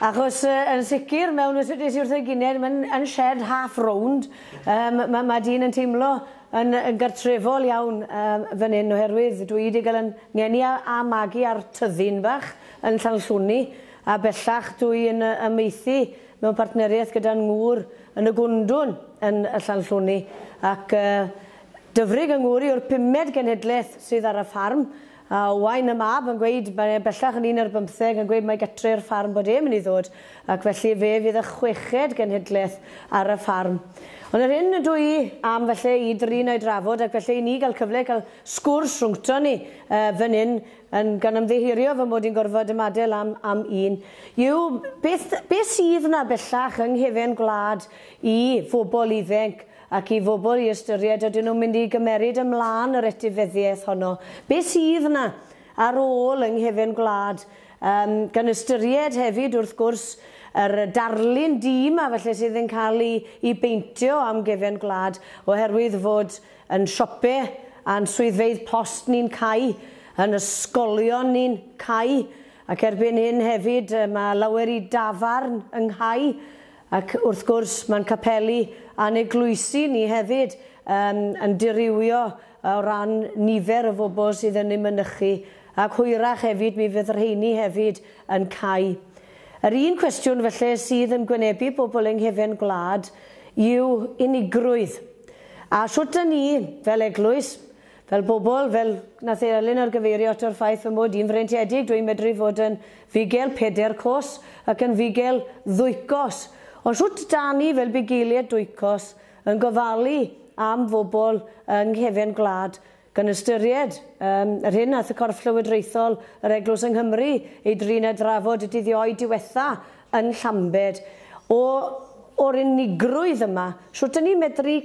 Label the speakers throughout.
Speaker 1: Achos yn sicr mewn ysbyty sydd wrth ei gyned mae'n yn shed half rownd yym ma' ma' dyn yn teimlo yn yn gartrefol iawn yym fan hyn oherwydd dwi wedi cael yn ngeni a a magu ar tyddyn bach yn Llanllwni a bellach dwi yn yy amaethu mewn partneriaeth gyda'n ngŵr yn y Gwndwn yn y Llanllwni ac yy Dyfrig yng ngŵr i yw'r pumed genhedlaeth sydd ar y ffarm A ŵan mae mab yn gweud, mae e bellach yn un ar bymtheg, yn gweud mae gytre'r ffarm bod e'n mynd i ddod, ac felly fe fydd y chweched genhedlaeth ar y ffarm. Ond yr hyn ydw i am falle i drin a'i drafod, ac felly i ni gael cyfle i cael sgwrs rhwngton ni fan hyn, yn gan ymddiheurio fy mod i'n gorfod ymadael am am un, yw beth beth sydd 'na bellach yng nghefen gwlad i fobl iddync ac i fobl i ystyried ydyn nhw'n mynd i gymeryd ymlaen yr etifeddiaeth honno, be sydd yna ar ôl yng nghefn gwlad, yym gan ystyried hefyd wrth gwrs yr darlun du yma falle sydd yn cael ei ei beintio am gefn gwlad oherwydd fod yn siope a'n swyddfeydd post ni'n cau, yn ysgolion ni'n cau ac erbyn hyn hefyd mae lawer i dafarn yn nghau. Ac wrth gwrs, mae'n capeli a'n eglwysi ni hefyd yym yn dirywio o ran nifer y bobl sydd yn eu mynychu, ac hwyrach hefyd mi fydd rheini hefyd yn cau. Yr un cwestiwn felly sydd yn gwynebu pobl yng nghefn gwlad yw unigrwydd. A shwt 'da ni, fel eglwys, Fel pobl, fel, na the Elin ar gyfeirio ato yr ffaith fy mod i'n freintiedig, dw i'n medru fod yn fugel peder cos ac yn fugel ddwy cos. Ond shwt dan ni fel bugeilied dwy cos yn gofalu am fobl yng nghefn gwlad, gan ystyried um, yr hyn nath y corff llywodraethol yr eglwys yng Nghymru ei drin a drafod y dydd Ioe diwetha yn Llambed, o, o'r unigrwydd yma, shwt dan ni'n medru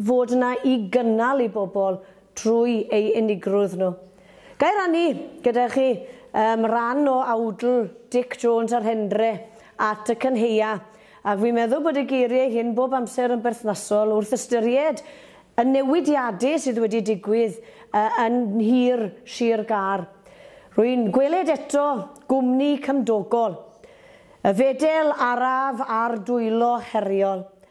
Speaker 1: fod yna i gynnal i bobl drwy ei unigrwydd nhw. Ga i rannu gyda chi um, ran o awdl Dic Jones a'r Hendre at y Cynheia, ac fi'n meddwl bod y geiriau hyn bob amser yn berthnasol wrth ystyried y newidiadau sydd wedi digwydd uh, yn nhir Sir Gar. Rwy'n gweled eto gwmni cymdogol, y fedel araf a'r dwylo heriol.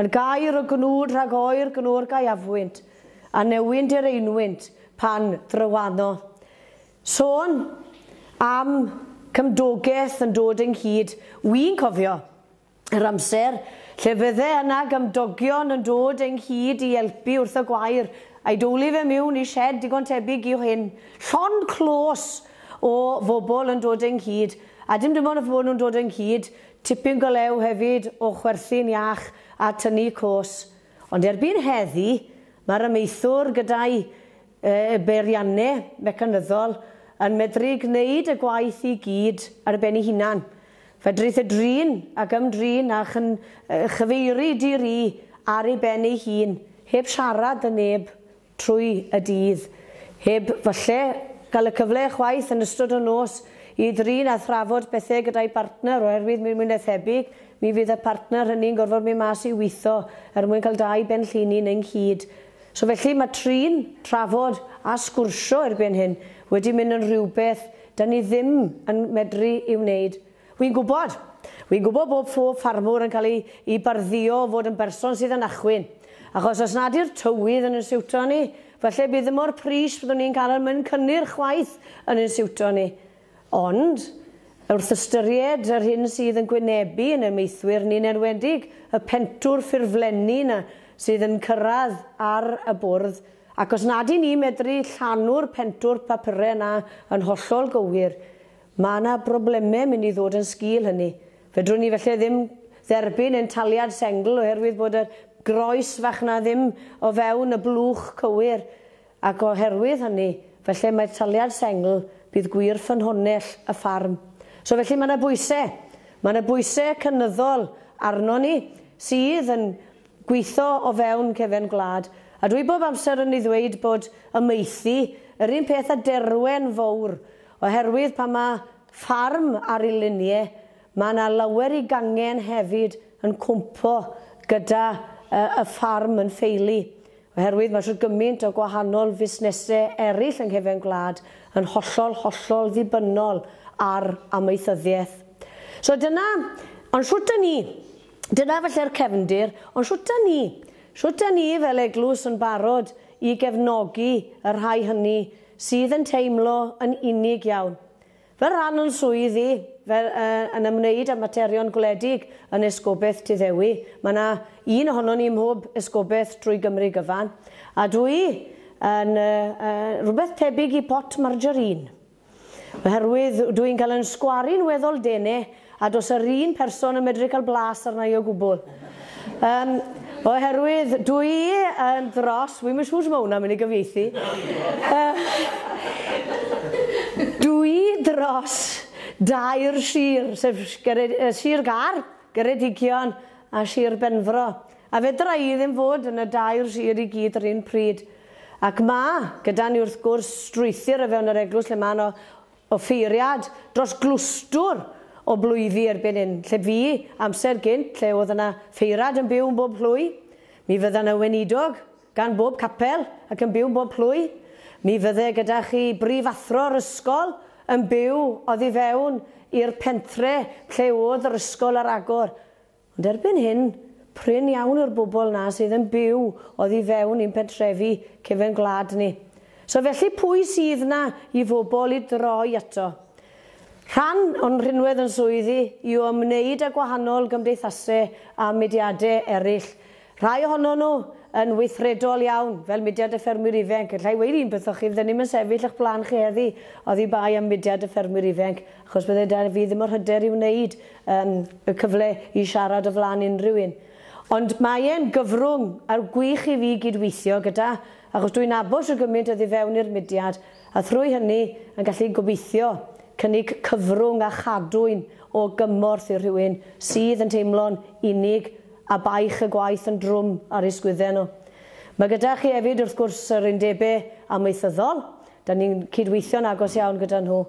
Speaker 1: Yn gair o gnwd rhag oer gnwr gaeafwynt, a newyn direinwynt pan drywano. Sôn am gymdogaeth yn dod ynghyd, wi'n cofio yr amser lle fydde yna gymdogion yn dod ynghyd i elpu wrth y gwair, a'i dowli fe miwn i shed digon tebyg i'w hyn, llond clos o fobl yn dod ynghyd, a dim dim ond y fod nhw'n dod ynghyd, Tipyn go lew hefyd o chwerthin iach a tynnu cos. Ond erbyn heddi, mae'r amaethwr gyda'i beirianne mecanyddol yn medru gwneud y gwaith i gyd ar ben ei hunan. Fedrith e drin ac ymdrin a chyfeiri di-ri ar ei ben ei hun, heb siarad 'da neb. trwy y dydd, heb falle cael y cyfle chwaith yn ystod y nos i ddrin a thrafod pethau gyda'i bartner oherwydd mwy na thebyg mi fydd y partner hynny'n gorfod mynd mas i witho er mwyn cael dau ben llinyn ynghyd. So felly mae trin, trafod a sgwrsio erbyn hyn wedi mynd yn rhywbeth 'da ni ddim yn medru ei wneud. Wi'n gwybod. Wi'n gwybod bod phob ffarmwr yn cael ei i bardduo o fod yn berson sydd yn achwyn. Achos os nad yw'r tywydd yn yn siwto ni, falle bydd mor pris fyddwn ni'n cael yn myn cynnyrch chwaith yn yn siwto ni. Ond, wrth ystyried yr hyn sydd yn gwynebu yn ein meithwyr ni'n enwedig y pentwr ffurflenni 'na sydd yn cyrraedd ar y bwrdd, ac os nad 'yn ni'n medru llanu'r pentwr papure 'na yn hollol gywir, Mae yna broblemau mynd i ddod yn sgil hynny. Fedrwn ni falle ddim dderbyn ein taliad sengl oherwydd bod y groes fach 'na ddim o fewn y blwch cywir, ac oherwydd hynny, falle mai'r taliad sengl bydd gwir ffynhonnell y ffarm. So felly mae yna bwysau. Mae yna bwysau cynyddol arnon ni sydd yn gweithio o fewn cefn gwlad. A dwi bob amser yn ei ddweud bod amaethu, yr un peth â Derwen Fowr, Oherwydd pan mae ffarm ar y linie, mae yna lawer i gangen hefyd yn cwmpo gyda y ffarm yn ffeili, oherwydd mae shwt gymaint o gwahanol fusnesau eraill yng nghefn gwlad yn hollol, hollol ddibynnol ar amaethyddiaeth. So dyna, ond shwt dan ni, dyna falle'r cefndir, ond shwt dan ni, shwt dan ni fel eglwys yn barod i gefnogi y rhai hynny sydd yn teimlo yn unig iawn. Fy rhan yn swydd i, fe yn ymwneud â materion gwledig yn Esgobaeth Tŷ Ddewi, mae yna un ohonon ni ym mhob esgobaeth drwy Gymru gyfan, a dw i yn rhywbeth tebyg i pot margarine, oherwydd dw i'n cael yn sgwaru'n weddol dene A does yr un person yn medru cael blas arna i o gwbl. Yym, oherwydd dw i yn dros, wi'm yn siŵr sut mae hwnna'n mynd i gyfieithu. Dw i dros dair sir, sef Sir Gâr, Geredigion a Sir Benfro. A fedra i ddim fod yn y dair sir i gyd yr un pryd. Ac mae, gyda ni wrth gwrs, strwythur o fewn yr eglwys lle mae yno Offeiriad dros glwstwr o blwyddi erbyn hyn, lle fu amser gynt lle oedd yna feirad yn byw yn bob plwy. Mi fydda 'na weinidog gan bob capel ac yn byw yn bob plwy. Mi fydde gyda chi brifathro'r ysgol yn byw oddi fewn i'r pentre lle oedd yr ysgol ar agor. Ond erbyn hyn, prin iawn yw'r bobl 'na sydd yn byw oddi fewn i'n pentrefi cefn gwlad ni. So felly pwy sydd 'na i fobl i droi ato? Rhan o'n rhinwedd yn swyddi i o ymwneud â gwahanol gymdeithase a mudiade eryll, Rhai ohonon nhw yn weithredol iawn, fel Mudiad y Ffermwyr Ifenc. Alla i weud un peth wrthoch chi, fydden ni'm yn sefyll o'ch blaen chi heddi oddi bai am Mudiad y Ffermwyr Ifenc, achos bydde 'da fi ddim yr hyder i wneud yym y cyfle i siarad o flaen unrhyw un. Ond mae e'n gyfrwng ar gwych i fi gyd-weithio gyda, achos dwi'n nabod shwt gymaint oddi fewn i'r Mudiad, a thrwy hynny yn gallu, gobeithio, cynnig cyfrwng a chadwyn o gymorth i rhywun sydd yn teimlo'n unig A baich y gwaith yn drwm ar ei sgwydden o. Mae gyda chi hefyd, wrth gwrs, yr undebau amaethyddol. Dan ni'n cydweithio'n agos iawn gyda nhw.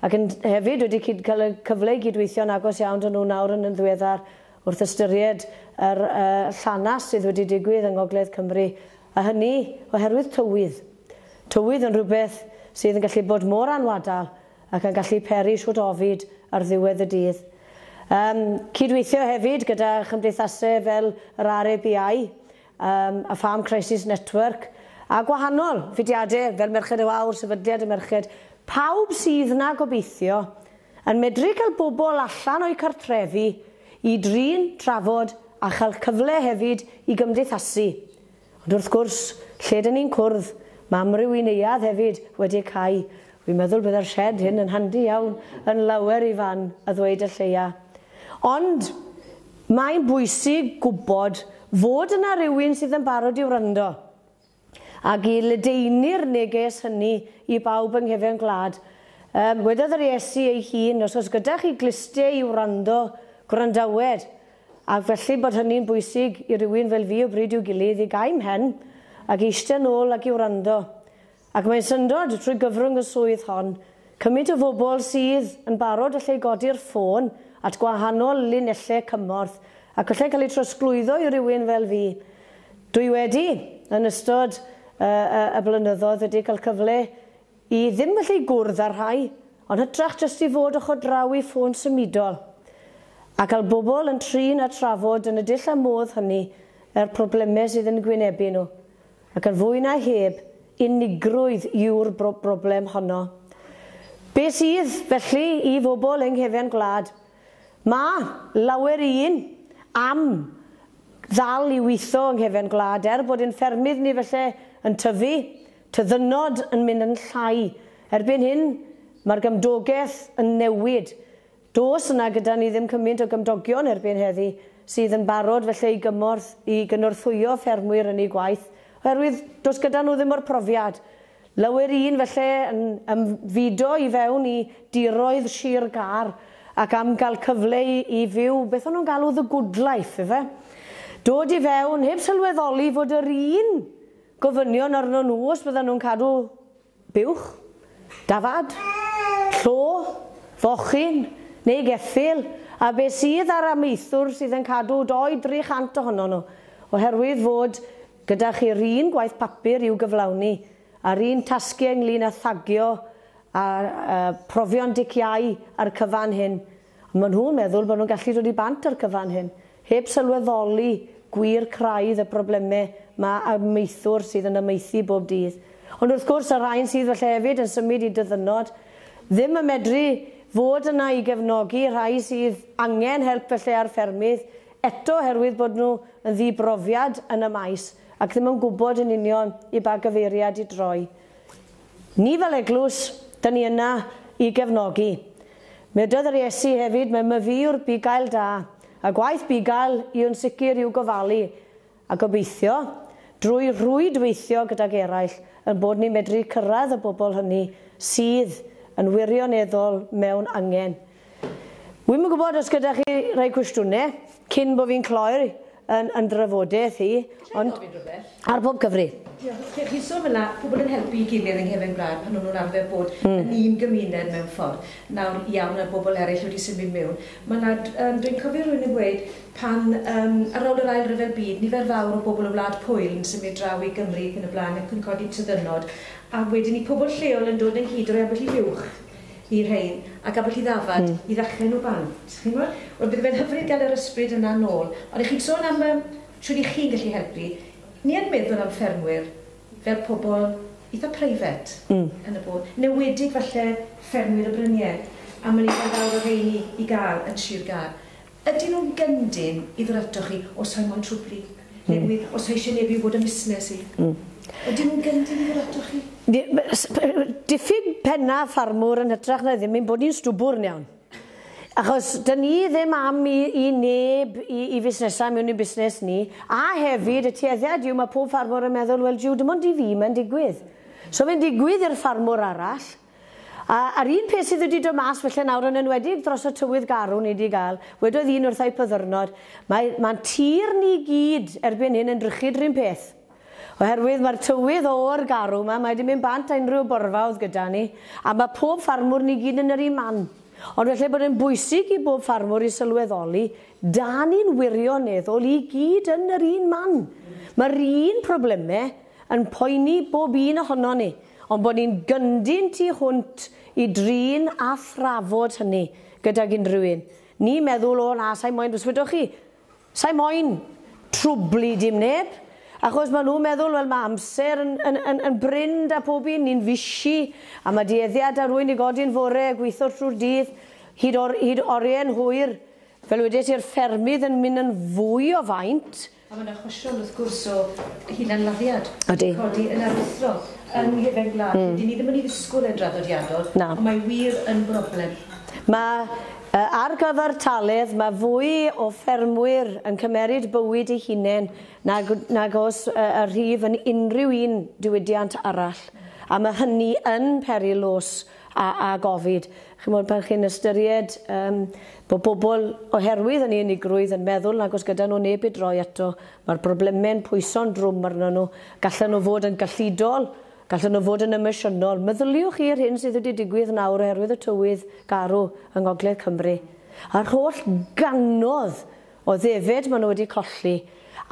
Speaker 1: Ac yn hefyd wedi cyd cael y cyfle i gydweithio'n agos iawn dan nhw nawr yn yn ddiweddar wrth ystyried yr uh, llanas sydd wedi digwydd yng Ngogledd Cymru. A hynny oherwydd tywydd. Tywydd yn rhywbeth sydd yn gallu bod mor anwadal ac yn gallu peri shwt ofid ar ddiwedd y dydd. Yym, cydweithio hefyd gyda chymdeithasau fel yr RABI, yym, a Farm Crisis Network, a gwahanol fudiadau fel Merched y Wawr, Sefydliad y Merched, pawb sydd 'na gobeithio yn medru cael bobl allan o'u cartrefi i drin, trafod a chael cyfle hefyd i gymdeithasu, Ond wrth gwrs, lle dyn ni'n cwrdd, mae amryw i neuadd hefyd wedi eu cau. Wi'n meddwl bydde'r sied hyn yn handi iawn yn lawer i fan a ddweud y lleia. Ond mae'n bwysig gwybod fod yna rywun sydd yn barod i wrando ac i ledaenu'r neges hynny i bawb yng nghefn gwlad. Wedodd yr Iesu ei hun, os oes gyda chi glustiau i wrando, gwrandawed. Ac felly bod hynny'n bwysig i rywun fel fi o bryd i'w gilydd i gau 'mhen ac i eistedd nôl ac i wrando. Ac mae'n syndod, trwy gyfrwng y swydd hon, cymint o fobl sydd yn barod allai godi'r ffôn at gwahanol linelle cymorth ac allai cael eu trosglwyddo i rywun fel fi. Dwi wedi, yn ystod y y y blynyddoedd wedi cael cyfle I ddim gallu gwrdd â'r rhai, ond hytrach jyst i fod ochr draw i ffôn symudol, a cael bobl yn trin a trafod yn y dull a modd hynny yr problemau sydd yn gwynebu nhw, ac yn fwy na heb, unigrwydd yw'r broblem honno. Be sydd, felly, i fobl yng nghefn gwlad? Mae, lawer i un, am, ddal i witho yng nghefn gwlad, er bod ein ffermydd ni felly yn tyfu, Tyddynnod yn mynd yn llai. Erbyn hyn, mae'r gymdogaeth yn newid. Does yna gyda ni ddim cymint o gymdogion erbyn heddi sydd yn barod felly i gymorth i gynorthwyo ffermwyr yn eu gwaith, oherwydd does gyda nhw ddim o'r profiad. Lawer un felly yn ymfudo i fewn i diroedd Sir Gâr ac am gael cyfle i i fyw beth o'n nhw'n galw the good life, ife? Dod i fewn heb sylweddoli fod yr un Gofynion arnon nhw os byddan nhw'n cadw buwch, dafad, llo, fochyn neu geffyl, a beth sydd â'r amaethwr sydd yn cadw 200-300 chant ohonon nhw, oherwydd fod gyda chi'r un gwaith papur i'w gyflawni, a'r un tasgiau ynglŷn â thagio a profion diciâu ar y cyfan hyn. Ond maen nhw'n meddwl bod nhw'n gallu dod i bant â'r cyfan hyn, heb sylweddoli gwir craidd y problemau mae amaethwr sydd yn amaethu bob dydd. Ond wrth gwrs, y rhain sydd falle hefyd yn symud i dyddynod, ddim yn medru fod yna i gefnogi y rhai sydd angen help felly a'r ffermydd, eto oherwydd bod nhw yn ddi-brofiad yn y maes ac ddim yn gwybod yn union i ba gyfeiriad i droi. Ni fel eglwys, dŷn ni yna i gefnogi. Meddai'r Yr Iesu hefyd, mae myfyriwr bugail da, a gwaith bugail i yn sicr yw gofalu, a gobeithio, drwy rhwydweithio gydag eraill, ein bod ni'n medru cyrraedd y bobl hynny sydd yn wirioneddol mewn angen. Wi'm yn gwybod os gyda chi rhai cwestiynau cyn bod fi'n cloi'r yn, yn drafodaeth i, ond ar bob cyfri. Diolch. Chi'n sôn fel yna, pobl yn helpu i gilydd yng Nghefn Gwlad pan o'n nhw'n arfer bod mm. yn un gymuned mewn ffordd. Nawr, iawn, a bobl eraill wedi symud mewn. Mae yna, um, dwi'n cofio rhywun yn gweud pan, um, ar ôl yr ail ryfel byd, nifer fawr o bobl o wlad Pwyl yn symud draw i Gymru ac yn y blaen ac yn codi tyddynod, a wedyn i pobl lleol yn dod ynghyd o rei ambell i fuwch y rhein a gafwyd hi ddafad i ddechrau nhw bant. Chi'n gwybod? Wel, bydde fe'n hyfryd gael yr ysbryd yna nôl. Ond 'ych chi'n sôn am yym shwt 'ych chi'n gallu helpu. Ni yn meddwl am ffermwyr fel pobl eitha' private... Mm. ...yn y bôn. 'Newedig falle ffermwyr y brynie a ma' 'na nifer fawr o rheini i gael yn Sir Gâr. Ydyn nhw'n gyndyn i ddod ato chi os rhai mo'n trwbli? Newydd, os rhai eisiau neb i wybod am fusnes i? Ydyn nhw'n gyndyn i ddod ato chi? Diffyg pennau ffarmwr yn hytrach na ddim ein bod ni'n stwbwrn iawn. Achos 'dyn ni ddim am i i neb i i fusnesau mewn i'n busnes ni. A hefyd, y tueddiad yw, mae pob ffarmwr yn meddwl, 'wel jiw, dim ond i fi mae'n digwydd. So fe'n digwydd i'r ffarmwr arall. A, a'r un peth sydd wedi dod mas falle nawr yn enwedig dros y tywydd garw ni 'di gael, wedodd un wrtha i pyddyrnod, mae, mae'n tir ni gyd erbyn hyn yn drychyd 'run peth. Oherwydd mae'r tywydd oer garw 'ma, mae 'di mynd bant a unrhyw borfa o'dd gyda ni, a ma' pob ffarmwr ni gyd yn yr un man. Ond falle bod e'n bwysig i bob ffarmwr i sylweddoli, 'da ni'n wirioneddol i gyd yn yr un man. Mae'r un problemau, yn poeni bob un ohonon ni, ond bod ni'n gyndyn tu hwnt i drin a thrafod hynny gydag unrhyw un. Ni meddwl, o na, sa'i moyn bryswydo chi, sa'i moyn trwblu dim neb, achos maen nhw'n meddwl, wel, mae amser yn, yn, yn, yn brin da pob un, ni'n fisi, a mae dueddiad da rwy'n i godi'n fore a gweithio trwy'r dydd, hyd, or, hyd oriau'n hwyr. Fel wedes i'r ffermydd yn mynd yn fwy o faint, A mae 'na achosion, wrth gwrs, o hunanladdiad wedi codi yn aruthrol yng nghefen gwlad lle 'dyn ni ddim yn ei ddisgwyl e'n draddodiadol, ond mae wir yn broblem. Mae, ar gyfartaledd, mae fwy o ffermwyr yn cymeryd bywyd eu hunain nag nag oes y rhif yn unrhyw un diwydiant arall, a mae hynny yn peri lws a a gofid. Chimod, pan chi'n ystyried yym bod bobl, oherwydd hynny, unigrwydd, yn meddwl nag oes gyda nhw neb i droi ato, mae'r brobleme'n pwyso'n drwm arnyn nhw, gallen nhw fod yn gyllidol, gallen nhw fod yn emosiynol. Meddyliwch chi yr hyn sydd wedi digwydd nawr oherwydd y tywydd garw yng Ngogledd Cymru, a'r holl gannoedd o ddefed maen nhw wedi colli,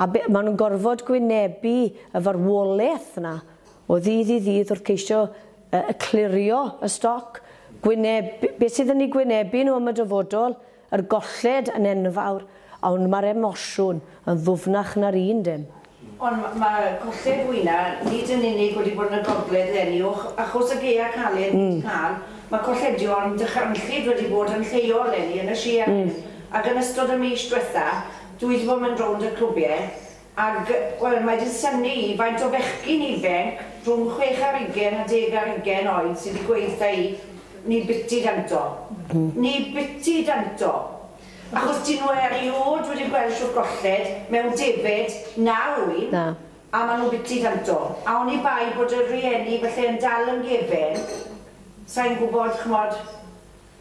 Speaker 1: a be- maen nhw'n gorfod gwynebu y farwolaeth 'na o ddydd i ddydd wrth ceisio y clirio y stoc, gwyneb, beth sydd yn eu gwynebu nhw am y dyfodol, yr golled yn enfawr, ond mae'r emosiwn yn ddwfnach na'r un dim. Ond mae colled fwyna, nid yn unig wedi bod yn y gogledd eleni, o achos y gaeau caled ni wedi cael, mae colledion dychrynllyd wedi bod yn lleol eleni yn y sir ac yn ystod y mis diwetha, dwi wedi bod yn mynd rownd y clwbiau, Ac, wel, mae 'di synnu i faint o fechgyn ifainc rhwng chwech ar ugen a deg ar ugen oed sy 'di gweud wrtha i, 'ni biti danto. 'Ni biti danto! Achos 'dyn nhw eriôd wedi gweld shwt golled, mewn debed, na ŵyn, a ma' nhw biti danto. A oni bai bod y rhieni falle yn dal yn gefyn, sai'n gwbod, ch'mod,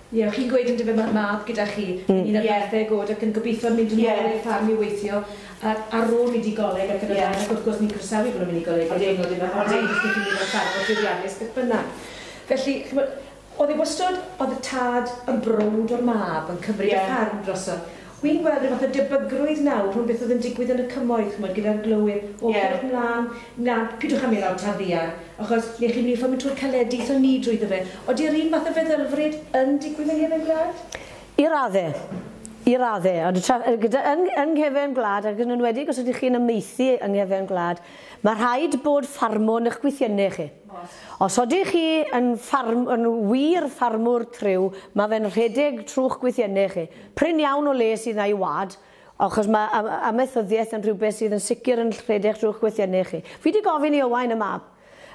Speaker 1: Ie, o' chi'n gweud yndyfe ma'r mab gyda chi, yn un ar bymtheg o'd ac yn gobitho mynd yn ôl i'r ffarm i weithio a- ar ôl mynd i goleg ac yn y blaen ac wrth gwrs ni'n croesawu bo' nw'n mynd i goleg ar ddiwrnod yw e ond nid os 'dych chi'n mynd ar ffarm mor llwyddiannus beth bynnag. Felly, ch'mod, o'dd e wastod, o'dd y tad yn browd o'r mab yn cymryd y ffarm drosodd. Wi'n gweld rhyw fath o debygrwydd nawr rhwng beth oedd yn digwydd yn y Cymoedd, ch'mod, gyda'r glowyr, o beth mlan, na, pidwch â mynd lawr Taf Ddiarth, achos ble chi'n mynd i fformio twr caledi, aethon ni drwyddo fe. Odi yr un fath o feddylfryd yn digwydd yng nghefn gwlad? I radde. I radde. Ond y tra- gyda, yn, yn nghefn gwlad, ac yn enwedig os ydych chi'n amaethu yng nghefn gwlad, mae rhaid bod ffarmwr yn eich gwythiennau chi. Os ydych chi yn ffarm, yn wir ffarmwr tryw, mae fe'n rhedeg trwy'ch gwythiennau chi. Prin iawn o le sydd 'na i wlad, achos mae am- amaethyddiaeth yn rhywbeth sydd yn sicr yn rhedeg trwy'ch gweithiennau chi. Fi 'di gofyn i Owain, y mab,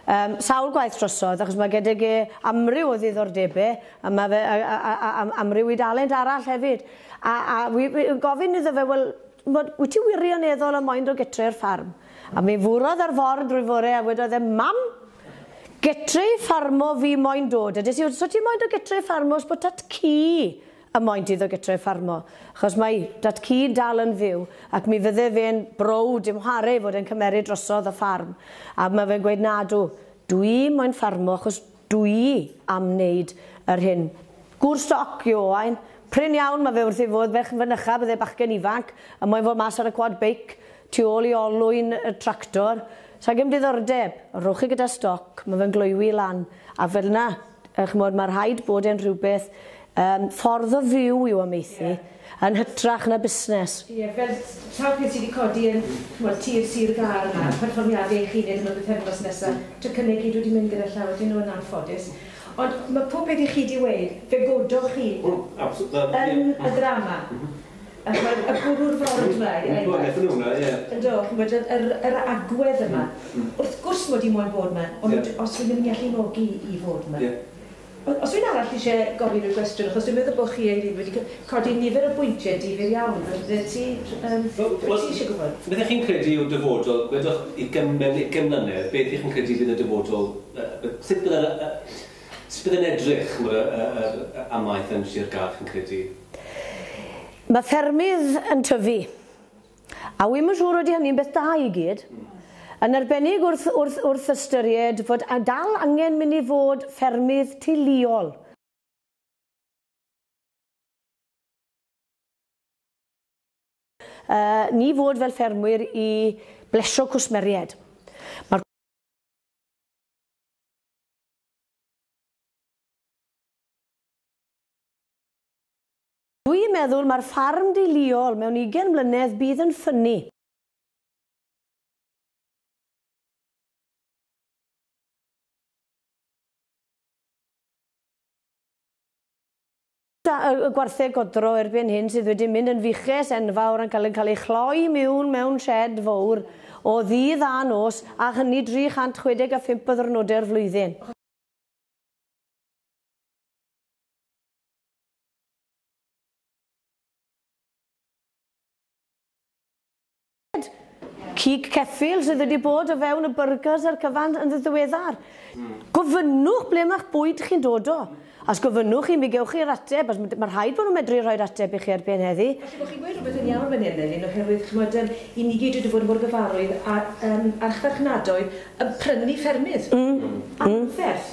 Speaker 1: yym, sawl gwaith drosodd, achos mae gydag e amryw o ddiddordebau, a mae fe, a, a, a, a, amryw i dalent arall hefyd, a, a wi, wi, gofyn iddo fe, wel, t'mod, wyt ti wirioneddol yn moyn dod gytre i'r ffarm? A mi furodd ar ford drwy fore a wedodd e, Mam, gytre i ffarmo fi moyn dod. A des i, so ti'n moyn dod gytre i ffarmo os bod tat-cu a maent iddo gytre ffarmo, achos mae dat ci dal yn fyw, ac mi fydde fe'n browd dim whare i fod e'n cymeryd drosodd y ffarm, a ma' fe'n gweud nadw, dwi moyn ffarmo achos dwi am neud yr hyn. Gŵr stoc yw Owain, prin iawn ma' fe wrth ei fodd, ferch yn fynycha, bydde bachgen ifanc, a moyn fod mas ar y quad beic, tu ôl i olwyn y tractor, s'a gem diddordeb, rhowch chi gyda stoc, ma' fe'n gloywi lan, a fel'na. Yy ch'mod ma' rhaid bod e'n rhywbeth yym ffordd o fyw yw amaethu yn hytrach na busnes. Ie fel s- sawl peth sy' 'di codi yn ch'mod tir Sir Gâr yma, perfformiade eich hunen yn y pythefnos nesa, tocynne i gyd wedi mynd gyda llaw ydyn nhw yn anffodus. Ond ma' pob peth i chi 'di weud, fe godwch chi yn y ddrama. Ac mae y bwrw'r ford 'ma i roi gwaith. Yn do, chi'n gwybod, yr, yr, yr agwedd yma. Wrth gwrs mod i moyn bod 'ma, ond os fi'n ddim yn gallu nogi i fod 'ma. O- os rywun arall isie gofyn y gwestiwn, achos dwi'n meddwl bod chi eilydd wedi c- codi nifer o bwyntie difyr iawn, bydde ti, yym, bydde ti isie gwybod? Beth chi'n credu yw'r dyfodol, gwedwch i gym- mewn ugen mlynedd, beth y'ch chi'n credu fydd y dyfodol, yy, b- sut bydde'r, yy, yy, sut bydde'n edrych, ch'mod, y, y, yr, y amaeth yn Sir Gâr, chi'n credu? Mae ffermydd yn tyfu, a wi'm yn siŵr ydy hynny'n beth da i gyd, yn arbennig wrth, wrth, wrth ystyried fod dal angen mynd i fod ffermydd teuluol. Uh, ni fod fel ffermwyr i blesio cwsmeriaid. Mae'r Dwi yn meddwl mae'r ffarm di liol mewn ugen mlynedd bydd yn ffynnu. Y gwartheg godro erbyn hyn sydd wedi mynd yn fuches enfawr yn cael yn cael ei chloi miwn mewn shed fowr o ddydd a nos a hynny 365 o ddwrnodau'r flwyddyn. cig ceffyl sydd wedi bod o fewn y byrgers a'r cyfan yn ddiweddar. Hmm. Gofynnwch ble mae'ch bwyd chi'n dod o. Os gofynnwch chi, mi gewch chi'r ateb, os mae rhaid bod nhw'n medru rhoi'r ateb i chi ar ben heddi. Felly, bod chi'n gweud rhywbeth yn iawn fan hyn, Elin, oherwydd, chymod, um, i ni gyd wedi bod mor gyfarwydd a um, archfarchnadoedd yn prynu ffermydd. Mm. mm. Anferth.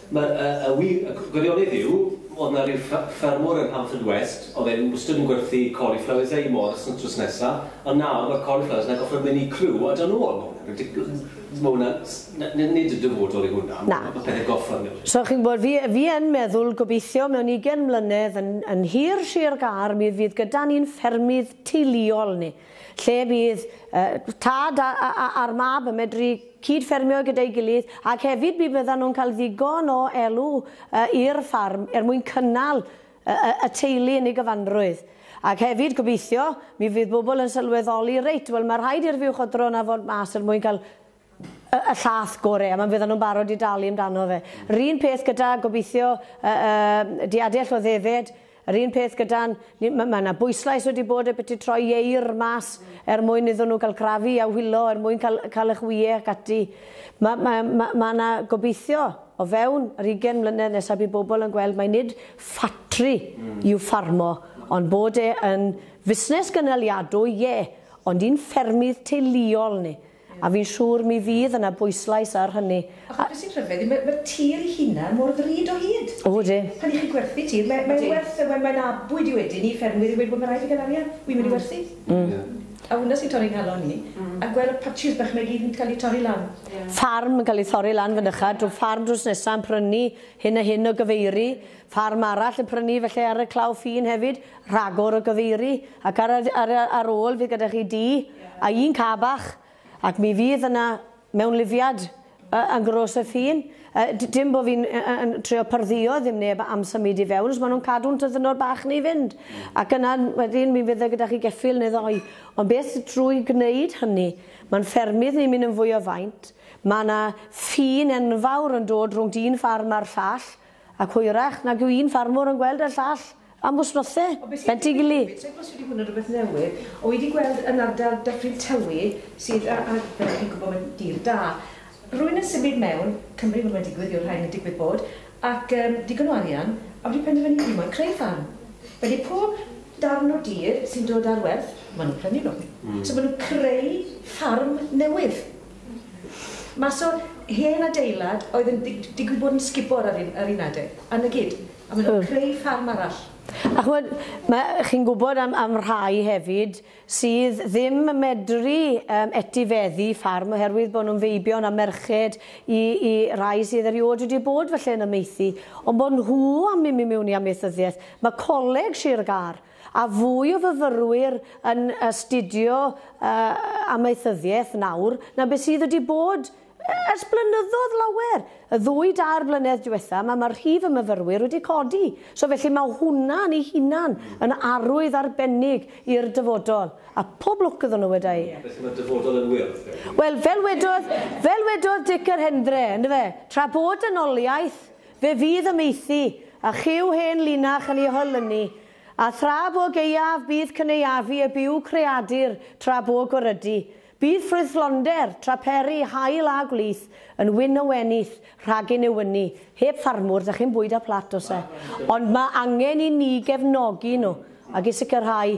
Speaker 1: Mae'r y wir y gwirionedd yw oedd 'na ryw ffra- ffermwr yn Haverfordwest oedd e'n wastad yn gwerthu cauliflowers a'i mors yn trws nesa ond nawr mae'r cauliflowers 'na gorffod mynd i Crew a do' nôl, ma' hwnna'n ridiculous. So ma' hwnna'n s- na- n- nid yn dyfodol yw hwnna, ma' ma' pethe gorffod newid. So chi'n gwybod, fi fi yn meddwl, gobeithio mewn ugen mlynedd yn yn hir, shir, gar, mi fydd gyda ni'n ffermydd teuluol ni. lle bydd tad a'r mab yn medru cyd-ffermio gyda'i gilydd ac hefyd mi fyddan nhw'n cael ddigon o elw i'r ffarm er mwyn cynnal y teulu yn ei gyfanrwydd. Ac hefyd, gobeithio, mi fydd bobl yn sylweddoli, reit, wel mae rhaid i'r fuwchodron 'na fod mas er mwyn cael y y llath gore a ma' fyddan nhw'n barod i dalu amdano fe. Yr un peth gyda gobeithio y y diadell o ddefed, yr un peth gyda'n ni ma' ma' 'na bwyslais wedi bod e byti troi ieir mas er mwyn iddon nhw gael crafu a hwilo er mwyn cael cael eich ŵye ac ati. Ma' ma' ma' ma' 'na gobeithio o fewn yr ugain mlynedd nesa bydd bobl yn gweld mai nid ffatri yw ffarmo ond bod e yn fusnes gynaliadwy, ie, ond i'n ffermydd teuluol ni. A fi'n siŵr mi fydd yna bwyslais ar hynny. Achos beth sy'n rhyfedd yw, mae'r tir ei hunan mor ddrud o hyd. O, ydy. Pan 'y chi'n gwerthu tir, mae e'n werth e. Mae'n abwyd i wedyn i ffermwyr i weud, wel, mae'n rhaid i fi gael arian, wi'n mynd i werthu. A hwnna sy'n torri 'nghalon i, a gweld y patshis bach 'ma i gyd yn cael eu torri lan. Ffarm yn cael ei thorri lan fynycha, drwy ffarm drws nesa yn prynu hyn a hyn o gyfeiri. Ffarm arall yn prynu fy lle ar y claw ffin hefyd, rhagor o gyfeiri, ac ar y, ar y, ar ôl fydd gyda chi dŷ, a un car bach, ac mi fydd yna mewnlifiad y, yn Gros y Ffin. Y, d- dim bod fi'n y, y, yn trio pardduo ddim neb am symud i fewn, os maen nhw'n cadw'n tyddynod bach ni i fynd. Ac yna wedyn mi fydde gyda chi geffyl neu ddoi. Ond beth drwy gwneud hynny, mae'n ffermydd ni'n mynd yn fwy o faint, mae yna ffin enfawr yn dod rhwng dyn ffarm a'r llall, Ac hwyrach nag yw un ffarmwr yn gweld y llall am wsnose, Ben Tigili. Be ti'n gwybod os ydy hwn yn rhywbeth newydd? O wi di gweld yn ardal Dyffryn Tywi sydd yy a- fel dych chi'n gwybod mae'n dir da. Rwy'n yn symud mewn, Cymru ma' mae'n digwydd yw'r rhain yn digwydd bod, ac yym digon o arian, a wedi penderfynu fi moyn creu ffarm. Felly pob darn o dir sy'n dod ar werth, ma' nhw'n prynu nhw. So ma' nhw'n creu ffarm newydd. Mas o hen adeilad oedd yn di- digwydd bod yn sgubor ar un, ar un adeg, a 'na gyd. A maen nhw'n Hmm. creu ffarm arall. A ch'mod, ma', chi'n gwybod am am rhai hefyd sydd ddim yn medru yym etifeddu ffarm oherwydd bod nhw'n feibion a merched i i rai sydd erioed wedi bod falle yn amaethu, ond bod nhw am mynd i mewn i amaethyddiaeth. Ma' Coleg Sir Gâr A fwy o fyfyrwyr yn astudio amaethyddiaeth nawr na be sydd wedi bod ers blynyddodd lawer. Y ddwy dair blynedd diwetha ma ma rhif y myfyrwyr wedi codi, so felly ma hwnna yn ei hunan yn arwydd arbennig i'r dyfodol. A pob lwc iddon nhw weda i. Felly ma dyfodol yn wyrdd gen ti? Wel fel wedodd, fel wedodd Dic yr Hendre, yndyfe, tra bod dynoliaeth Fe fydd y maethu, a chyw hen linach yn ei hoelynu, a thra bo gaeaf bydd cynaeafu y byw creadur tra bo gwarydu, bydd ffrwythlonder, tra peri, haul a gwlith, yn wyn o wenith, rhagyn yw ynni. Heb ffarmwr, dach chi'm bwyd ar plat, does e? Ond mae angen i ni gefnogi nhw, ac i sicrhau